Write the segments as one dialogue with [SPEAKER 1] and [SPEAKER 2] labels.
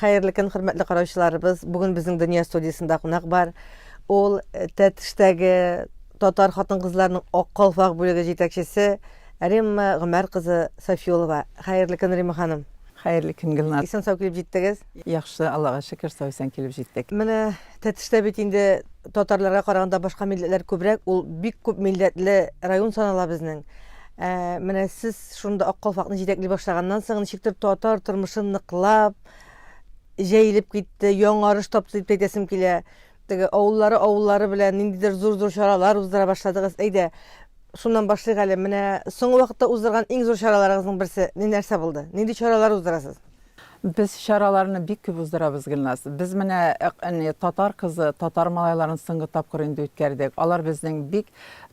[SPEAKER 1] Хәерле көн, хөрмәтле караучыларыбыз. Бүген безнең Дөнья студиясендә кунак бар. Ул э, Тәтештәге татар хатын-кызларының ак калфак бүлеге җитәкчесе Римма Гомәр кызы Софиулова. Хәерле көн, Римма ханым. Хәерле көн Гөлназ.
[SPEAKER 2] Исән сау килеп җиттегез.
[SPEAKER 1] Яхшы, Аллага
[SPEAKER 2] шөкер, сау исән килеп җиттек. Менә Тәтештә
[SPEAKER 1] бит инде татарларга караганда башка милләтләр күбрәк, ул бик күп милләтле район санала безнең. Ә, менә сез шунда Ак калфакны җитәкли башлаганнан соң ничектер татар тормышы ныклап җәелеп китте, яңарыш тапты дип әйтәсем килә. Теге авыллары авыллары белән ниндидер зур-зур чаралар уздыра башладыгыз. Әйдә, шуннан башлыйк әле. Менә соңгы вакытта уздырган иң зур чараларыгызның берсе ни нәрсә булды? Нинди чаралар уздырасыз? Без
[SPEAKER 2] чараларны бик күп уздырабыз, Гөлназ. Без менә әни татар кызы, татар малайларын соңгы тапкыр инде үткәрдек. Алар безнең бик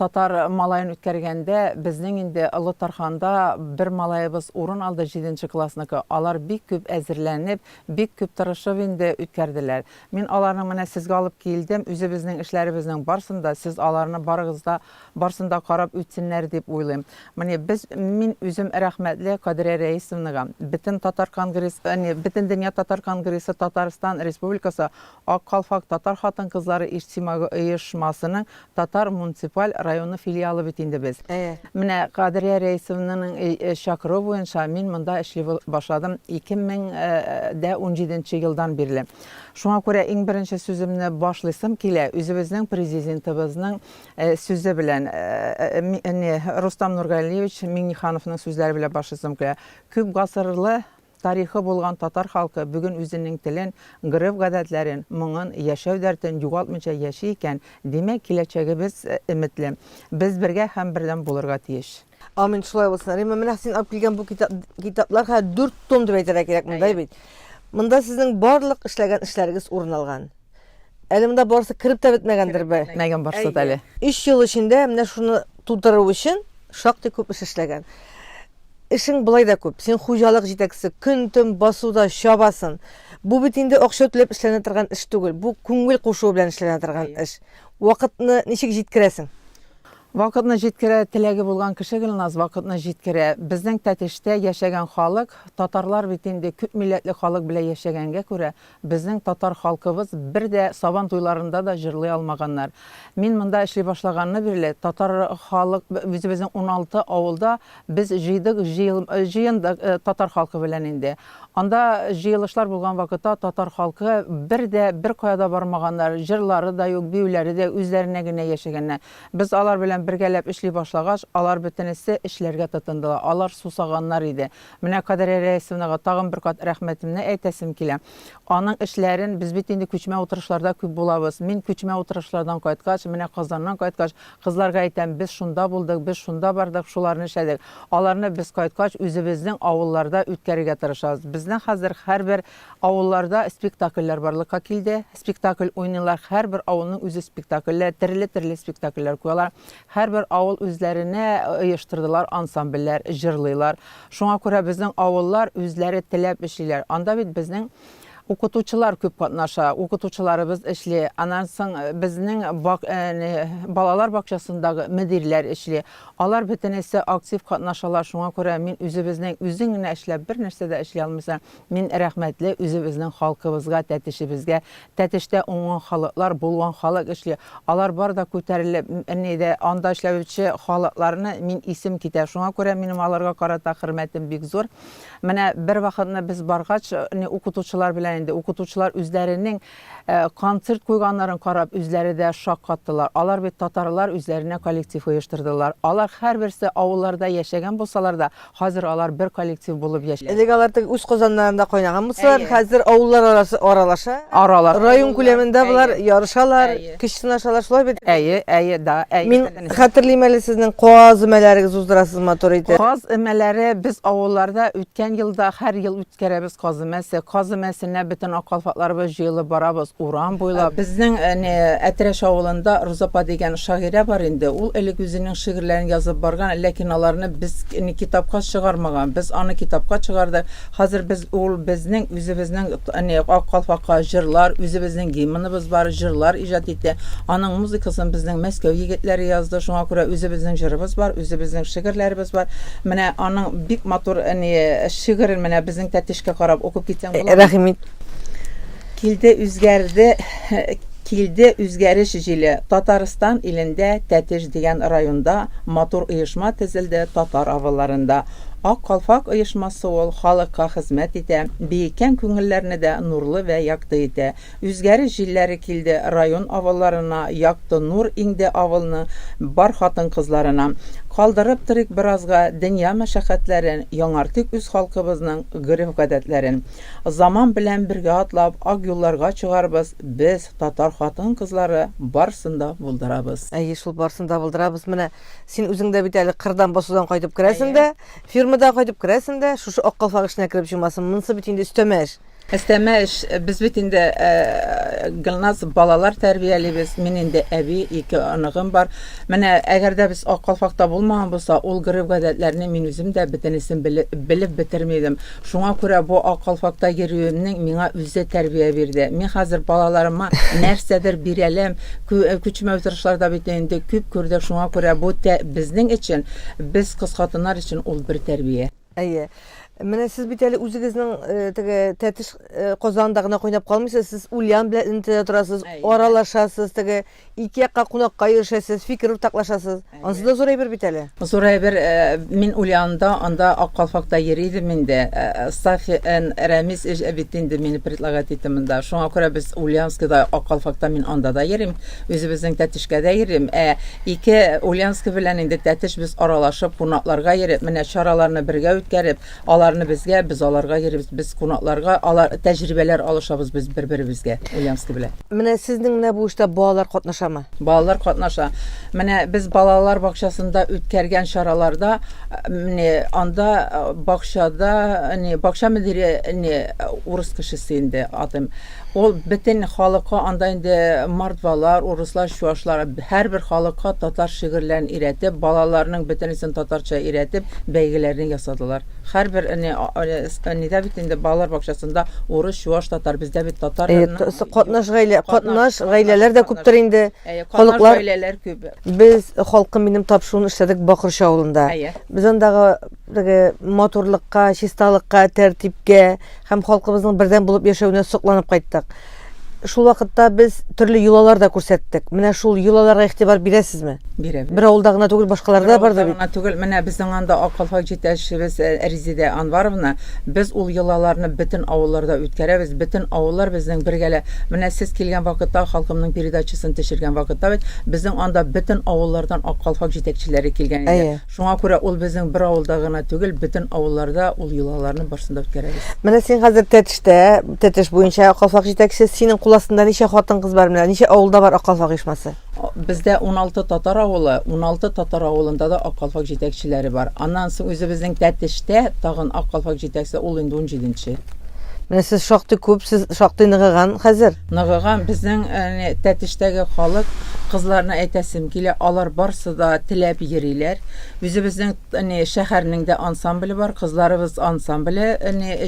[SPEAKER 2] татар малаен үткәргәндә, безнең инде Олы Тарханда бер малаебыз урын алды, җиденче классныкы. Алар бик күп әзерләнеп, бик күп тырышып инде үткәрделәр. Мин аларның менә сезгә алып килдем, үзебезнең эшләребезнең барсын да, сез аларны барыгыз да, барсын да карап үтсеннәр дип уйлыйм. Менә без, мин үзем рәхмәтле Кадрия Рәисовнага, бөтен татар конгресс, әни, Бөтендөнья татар конгрессы Татарстан Республикасы Ак калфак татар хатын-кызлары иҗтимагый оешмасының Татар муниципаль районы филиалы бит инде без. Менә Кадрия Рәисовнаның чакыруы буенча мин монда эшли башладым 2017 елдан бирле. Шуңа күрә иң беренче сүземне башлыйсым килә үзебезнең Президентыбызның сүзе белән, Рустам Нургалиевич Миңнехановның сүзләре белән башлыйсым килә. Күп гасырлы Тарихы булган татар халкы бүген үзенең телен, гореф-гадәтләрен, моңын, яшәү дәртен югалтмыйча яши икән, димәк, киләчәгебез өметле. Без бергә һәм бердәм булырга тиеш. Амин, шулай булсын.
[SPEAKER 1] Римма, менә син алып килгән бу китап, китаплар хәзер дүрт том дип әйтергә кирәк монда бит. Монда сезнең барлык эшләгән эшләрегез урын алган. Әле монда барысы кереп тә бетмәгәндер бе? Бетмәгән барысы да әле.
[SPEAKER 2] Өч ел эчендә
[SPEAKER 1] менә шуны тутыру өчен шактый күп эш эшләгән. Эшең болай да күп. Син хуҗалык җитәкчесе, көн-төн басуда чабасын. Бу бит инде акча түләп эшләнә торган эш түгел. Бу күңел кушуы белән эшләнә торган эш. Вакытны ничек җиткерәсең? Вакытны
[SPEAKER 2] җиткерә, теләге булган кеше Гөлназ вакытны җиткерә. Безнең Тәтештә яшәгән халык, татарлар бит инде күп милләтле халык белән яшәгәнгә күрә, Безнең татар халкыбыз бер дә Сабан туйларында да җырлый алмаганнар. Мин монда эшли башлаганны бирле, татар халык, үзебезнең уналты авылда без җыйдык, җыел, җыендык татар халкы белән инде. Анда җыелышлар булган вакытта татар халкы бер дә беркая да бармаганнар, җырлары да юк, биюләре дә үзләренә генә яшәгәннәр. Без алар белән бергәләп эшли башлагач, алар бөтенесе эшләргә тотындылар. Алар сусаганнар иде. Менә Кадрия Рәисовнага тагын бер кат рәхмәтемне әйтәсем килә. Аның эшләрен, без бит инде күчмә утырышларда күп булабыз. Мин күчмә утырышлардан кайткач, менә Казаннан кайткач, кызларга әйтәм, без шунда булдык, без шунда бардык, шуларны эшләдек. Аларны без кайткач, үзебезнең авылларда үткәрергә тырышабыз. Безнең хәзер һәрбер авылларда спектакльләр барлыкка килде. Спектакль уйныйлар, һәрбер авылның үзе спектакльләр, төрле-төрле спектакльләр куялар. Һәрбер авыл үзләренә оештырдылар ансамбльләр, җырлыйлар. Шуңа күрә безнең авыллар үзләре теләп эшлиләр. Анда бит безнең укытучылар күп катнаша, укытучыларыбыз эшли. Аннан соң безнең бак, әни, балалар бакчасындагы мөдирләр эшли. Алар бөтенесе актив катнашалар, шуңа күрә мин үзебезнең, үзең генә эшләп, бернәрсә дә эшли алмыйсың. Мин рәхмәтле үзебезнең халкыбызга, тәтешебезгә, Тәтештә уңган халыклар, булган халык эшли. Алар бар да күтәрелеп, ни дә, анда эшләүче халыкларны мин исем китә. Шуңа күрә минем аларга карата хөрмәтем бик зур. Менә бервакытны без баргач, ни, укытучылар белән инде, укытучылар үзләренең концерт куйганнарын карап, үзләре дә шаккаттылар. Алар бит татарлар үзләренә коллектив оештырдылар. Алар һәрберсе авылларда яшәгән булсалар да, Хәзер алар бер коллектив булып яшиләр. Элек алар теге үз казаннарында
[SPEAKER 1] кайнаган булсалар, хәзер авыллар арасы аралаша. Аралаша. Район күләмендә болар ярышалар, көч сынашалар, шулай бит? Әйе, әйе, да, әйе. Мин хәтерлим әле сезнең каз өмәләрегез уздырасыз матур итеп. Каз өмәләре
[SPEAKER 2] без авылларда үткән елда һәр ел үткәрәбез. Керәбез Каз өмәсе. Каз өмәсенә бөтен аккалфатларыбыз җыелып барабыз, урам буйлап. Безнең әнә Әтрәш авылында Роза апа дигән шагыйрә бар инде. Ул элек үзенең шигырьләрен язып барган, ләкин аларны без китапка чыгармаган. Без аны китапка чыгардык. Хәзер без ул безнең үзебезнең әнә аккалфакка җырлар, үзебезнең гимныбыз бар, җырлар иҗат итә. Аның музыкасын безнең Мәскәү егетләре язды. Шуңа күрә үзебезнең җырыбыз бар, үзебезнең шигырьләребез бар. Менә аның бик матур әнә Шигырен менә безнең Тәтешкә карап укып китсәң буламы? Рәхим ит. Килде үзгәрде, килде үзгәреш җиле, Татарстан илендә, Тәтеш дигән районда матур оешма төзелде, татар авылларында. Ак калфак оешмасы ул, халыкка хезмәт итә, биеккән күңелләрне дә нурлы вә якты итә. Үзгәреш җилләре килде район авылларына, Якты нур иңде авылны, бар хатын-кызларына. Калдырып торыйк беразга дөнья мәшәкатьләрен, яңартыйк үз халкыбызның гореф-гадәтләрен. Заман белән бергә атлап, ак юлларга чыгарбыз, без, татар хатын-кызлары, барсын да булдырабыз. Әйе шул, барсын да
[SPEAKER 1] булдырабыз. Менә син үзең дә бит әле кырдан басудан кайтып керәсең дә, фирмадан кайтып керәсең дә, шушы ак калфак эченә кереп чумасың. Монысы бит инде өстәмә эш. Әстәмә эш.
[SPEAKER 2] Без бит инде Гөлназ балалар тәрбиялибез. Мин инде әби, ике оныгым бар. Менә әгәр дә без Ак калфакта булмаган булса, ул гореф-гадәтләрне мин үзем дә бөтенесен белеп бетерми идем. Шуңа күрә бу Ак калфакта йөрүемнең миңа үзе тәрбия бирде. Мин хәзер балаларыма нәрсәдер бирәләм. Күчмә утырышларда бит инде күп күрдек, шуңа күрә бу безнең өчен, без кыз хатыннар өчен ул бер тәрбия. Әйе.
[SPEAKER 1] Менә сез бит әле үзегезнең э, теге тәтеш э, Казанда гына кайнап калмыйсыз, сез Ульян белән элемтәдә торасыз, Әйе. аралашасыз, теге ике якка кунакка йөрешәсез, фикер уртаклашасыз. Ансы да зур әйбер бит әле. Зур әйбер, э,
[SPEAKER 2] мин Ульянда, анда Ак калфакта йөри идем инде. Э, Сафи эн Рәмис эш бит инде мине предлагать итте монда. Шуңа күрә без Ульянскида, Ак калфакта мин анда да йөрим. Үзебезнең Тәтешкәдә йөрим, ә ике Ульянска белән инде Тәтеш без аралашып, кунакларга йөреп, менә чараларны бергә үткәреп, аларны безгә, без аларга йөрибез, без кунакларга, алар тәҗрибәләр алышабыз без бер-беребезгә Ульянска белән. Менә сезнең менә бу
[SPEAKER 1] эштә балалар катнашамы? Балалар катнаша.
[SPEAKER 2] Менә без балалар бакчасында үткәргән чараларда, не, анда бакчада, не, бакча мөдире, не, урыс кешесе инде, атым. Ул бетен халыкка анда инде мордвалар, урыслар, чуашлар, һәрбер халыкка татар шигырьләрен өйрәтеп, балаларның бөтенесен татарча өйрәтеп, бәйгеләрне ясадылар. Һәрбер эне энедә бит инде балалар бакчасында урыс, чуаш, татар, бездә бит татар Әйе, т сы катнаш гаилә,
[SPEAKER 1] катнаш гаиләләр дә күптер инде, Әйе, катнаш халыклар гаиләләр
[SPEAKER 2] күп. Без, халкым
[SPEAKER 1] минем тапшыруын эшләдек Бакырчы авылында. Әйе. Без андагы Теге матурлыкка, чисталыкка, тәртипкә һәм халкыбызның бердәм булып яшәвенә сокланып кайттык. Шул вакытта без төрле йолалар да күрсәттек. Менә шул йолаларга игътибар бирәсезме? Бирәбез. Бер авылда
[SPEAKER 2] гына түгел,
[SPEAKER 1] башкаларда да бар да бит. Түгел, менә безнең анда
[SPEAKER 2] акыллы җитәкчебез э, Резидә Анваровна, без ул йолаларны бөтен авылларда үткәрәбез. Бөтен авыллар безнең бергәлә. Менә сез килгән вакытта, халкымның передачасын төшергән вакытта бит, безнең анда бөтен авыллардан акыллы җитәкчеләре килгән иде. Шуңа күрә ул безнең бер авылда гына түгел, бөтен авылларда ул йолаларны барсын да үткәрәбез. Менә син хәзер Тәтештә,
[SPEAKER 1] Тәтеш буенча Аккалфак җитәкче, синең кул астында ничә хатын-кыз бар, менә ничә авылда бар Аккалфак оешмасы? Бездә уналты
[SPEAKER 2] татар авылы, уналты татар авылында да Аккалфак җитәкчеләре бар. Аннан соң үзебезнең Тәтештә тагын Аккалфак җитәкче, ул инде унҗиденче. Менә сез
[SPEAKER 1] шактый күп, сез шактый ныгыган хәзер. Ныгыган безнең
[SPEAKER 2] Тәтештәге халык, кызларны әйтәсем килә, алар барсы да теләп йөриләр. Үзебезнең шәһәрнең дә ансамбле бар, кызларыбыз ансамбле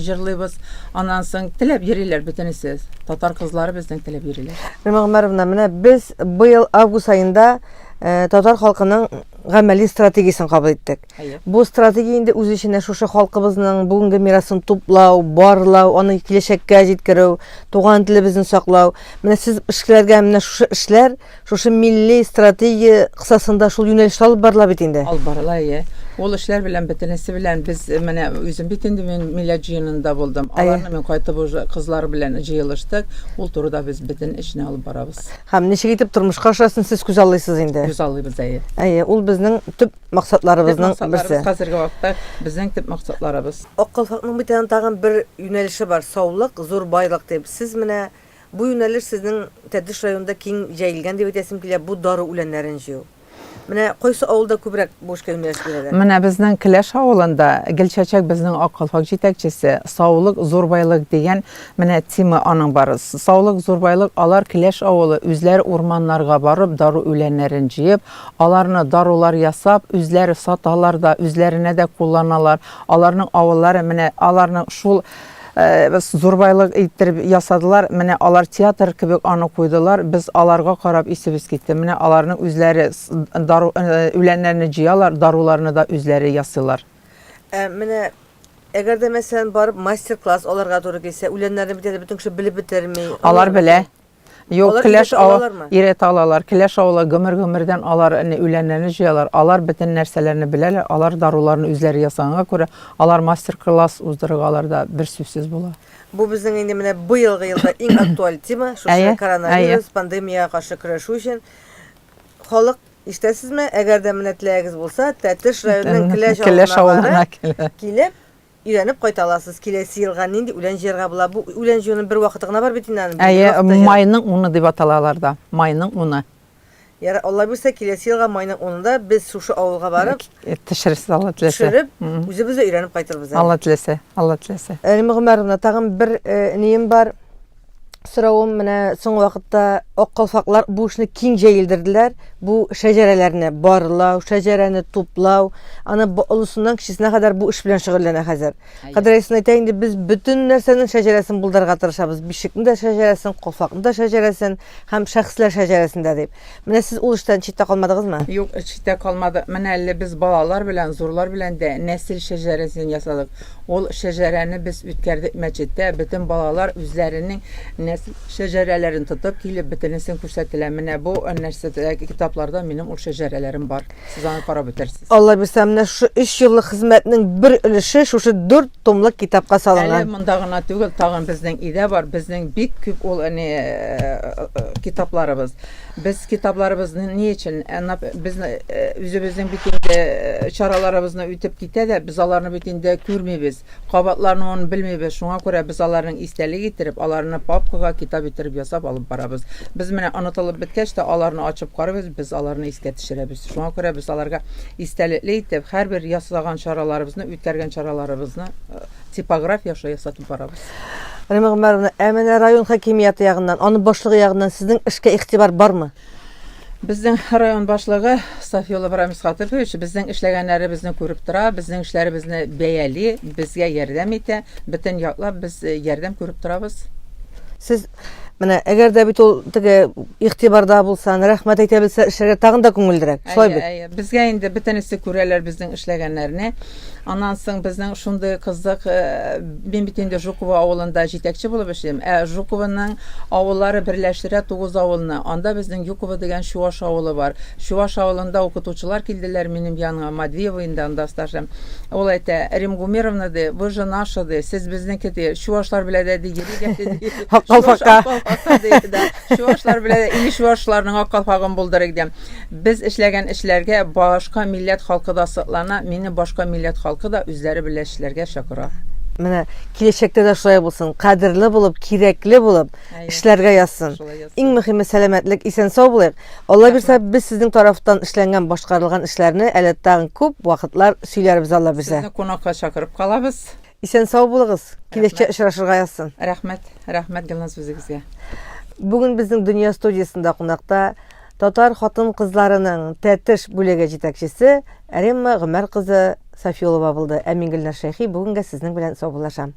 [SPEAKER 2] җырлыйбыз. Аннан соң теләп йөриләр бөтенесе. Татар кызлары безнең теләп йөриләр. Римма Гомәровна, менә
[SPEAKER 1] без быел август аенда татар халкының гамәли стратегиясен кабул иттек. Бу стратегия инде үз эченә шушы халкыбызның бүгенге мирасын туплау, барлау, аны киләчәккә җиткерү, туган телебезне саклау. Менә сез эшкәләргә менә шушы эшләр, шушы милли стратегия кысасында шул юнәлештә алып барыла бит инде. Алып барыла, иә.
[SPEAKER 2] Ул эшләр белән бөтенесе белән без э, менә үзем бит инде мин милләт җыенында булдым. Аларны мин кайтып уже кызлар белән җыелыштык. Ул турыда без бөтен эшне алып барабыз. Һәм ничек итеп
[SPEAKER 1] тормышка ашасын сез күз аллыйсыз инде. Күз аллыйбыз, әйе.
[SPEAKER 2] Әйе, ул безнең
[SPEAKER 1] төп максатларыбызның берсе. Хәзерге вакытта
[SPEAKER 2] безнең төп максатларыбыз. Ак калфакның бит
[SPEAKER 1] аның тагын бер юнәлеше бар, саулык, зур байлык дип. Сез менә бу юнәлеш сезнең Тәтеш районында киң җәелгән дип әйтәсем килә, бу дару үләннәрен җыю. Менә кайсы авылда күбрәк бу эшкә юнәлеш бирәләр? Менә безнең Келәш
[SPEAKER 2] авылында Гөлчәчәк безнең Ак калфак җитәкчесе, саулык, зур байлык дигән менә тема аның бар. Саулык, зур байлык, алар Келәш авылы үзләре урманнарга барып, дару үләннәрен җыеп, Аларны дарулар ясап, үзләре саталар да, үзләренә дә кулланалар. Аларның авыллары менә аларның шул зурбайлык иттереп ясадылар. Менә алар театр кебек аны куйдылар. Без аларга карап исебез китте. Менә аларның үзләре дару үләннәрне җыялар, даруларны да
[SPEAKER 1] үзләре
[SPEAKER 2] ясыйлар. Ә менә
[SPEAKER 1] Әгәр дә мәсәлән барып мастер-класс алырга туры килсә, үләннәрне бит әле бөтен кеше белеп бетерми. Алар белә.
[SPEAKER 2] Юк, Алар келәш килеш ава алалармы? иретә
[SPEAKER 1] алалар. Келәш
[SPEAKER 2] авылы гомер-гомердән алар әни үләннәрне җыялар. Алар бөтен нәрсәләрне беләләр. Алар даруларны үзләре ясаганга күрә, алар мастер-класс уздыргалар да бер сүзсез була. Бу безнең инде менә
[SPEAKER 1] быелгы елда иң актуаль тема, шушы Әйе, әйе. коронавирус
[SPEAKER 2] пандемиягә
[SPEAKER 1] каршы көрәшү өчен. Халык, ишетәсезме, әгәр дә менә теләгегез булса, Тәтеш районының Келәш Келәш авылына авылына килә. килеп, Өйрәнеп кайта аласыз. Киләсе елга нинди үлән җыярга була? Бу үлән җыюның бер вакыты гына бар бит инде аның. Әйе, майның
[SPEAKER 2] уны дип атала аларда. Майның уны. Ярар, Алла
[SPEAKER 1] бирсә, киләсе елга майның унында без шушы авылга барып, Төшерерсез, Алла
[SPEAKER 2] теләсә. төшереп, үзебез дә
[SPEAKER 1] өйрәнеп кайтырбыз әле. Алла теләсә, Алла
[SPEAKER 2] теләсә. Әлимә Гомәровна, тагын
[SPEAKER 1] бер нием бар. Соравым менә соңгы вакытта ак калфаклар бу эшне киң җәелдерделәр. Бу шәҗәрәләрне барлау, шәҗәрәне туплау, аны олысыннан кечесенә кадәр бу эш белән шөгыльләнә хәзер. Кадер Айсын әйтә инде, без бөтен нәрсәнең шәҗәрәсен булдырырга тырышабыз. Бишекнең дә шәҗәрәсен, калфакның да шәҗәрәсен һәм шәхесләр шәҗәрәсен дә дип. Менә сез ул эштән читтә калмадыгызмы? Юк, читтә калмадык.
[SPEAKER 2] Менә әле без балалар белән, зурлар белән дә нәсел шәҗәрәсен ясадык. Ул шәҗәрәне без үткәрдек мәчеттә. Бөтен балалар үзләренең нәсел шәҗәрәләрен тотып килеп, бөтенесен күрсәттеләр. Менә бу нәрсәдә, китапларда минем ул шәҗәрәләрем бар. Сез аны карап бетерсез. Алла бирсә, менә
[SPEAKER 1] шушы 3 еллык хезмәтнең бер өлеше шушы 4 томлык китапка салынган. Әле монда гына
[SPEAKER 2] түгел,
[SPEAKER 1] тагын
[SPEAKER 2] безнең өйдә бар, безнең бик күп ул әни э, э, э, китапларыбыз. Без китапларыбызны ни өчен? Әнә без үзебезнең бит инде чараларыбызны үтеп китә дә, без аларны бит инде күрмибез, кабатлануын белмибез. Шуңа күрә без аларның истәлек иттереп, аларны папкага китап иттереп ясап алып барабыз. Без менә онытылып беткәч тә аларны ачып карыйбыз, без аларны искә Төшерәбез. Шуңа күрә без аларга истәлекле итеп һәрбер яслаган чараларыбызны, үткәргән чараларыбызны типограф яшай ясатып барабыз. Римма Гомәровна,
[SPEAKER 1] ә менә район хакимияте ягыннан, аның башлыгы ягыннан сезнең эшкә игътибар бармы? Безнең
[SPEAKER 2] район башлыгы Сафиуллов Рамис Хатыйфович безнең эшләгәннәребезне күреп тора, безнең эшләребезне бәяли, безгә ярдәм итә, бөтен яклап без ярдәм күреп торабыз. Сез
[SPEAKER 1] Менә әгәр дә бит ул теге игътибарда булса, рәхмәт әйтә белсә, эшләргә тагын да күңеллерәк. Шулай бит. Әйе, безгә инде бөтенесе
[SPEAKER 2] күрәләр безнең эшләгәннәрне. Аннан соң безнең шундый кызык, э, мин бит инде Жукова авылында җитәкче булып эшлим. Ә Жукованың авыллары берләштерә тугыз авылны. Анда безнең Юкова дигән чуаш авылы бар. Чуаш авылында укытучылар килделәр минем яныма, Матвеево инде анда стажым. Ул әйтә, Рим Гумеровна, ди, вы же наша, ди, сез безнеке, ди, чувашлар белә дә, ди, йөри дә, ди, Аккалфака. Чувашлар белә дә, или чувашларның аккалфагын булдырыйк, ди. Без эшләгән эшләргә башка милләт халкы да соклана, мине башка милләт халкы да үзләре белән эшләргә чакыра. Менә
[SPEAKER 1] киләчәктә дә шулай булсын, кадерле булып, кирәкле булып эшләргә язсын. Иң мөһиме сәламәтлек, исән-сау булыйк. Алла бирса, без сезнең тарафтан эшләнгән, башкарылган эшләрне әле тагын күп вакытлар сөйләрбез Алла бирсә. Сезне кунакка чакырып
[SPEAKER 2] калабыз. Исән сау булыгыз.
[SPEAKER 1] Киләчәктә очрашырга язсын. Рәхмәт, рәхмәт
[SPEAKER 2] Гөлназ үзегезгә. Бүген
[SPEAKER 1] безнең Дөнья студиясендә кунакта татар хатын-кызларының Тәтеш бүлеге җитәкчесе Римма Гомәр кызы Сафиулова булды. Ә мин Гөлназ Шәйхи бүгенгә сезнең белән саубуллашам.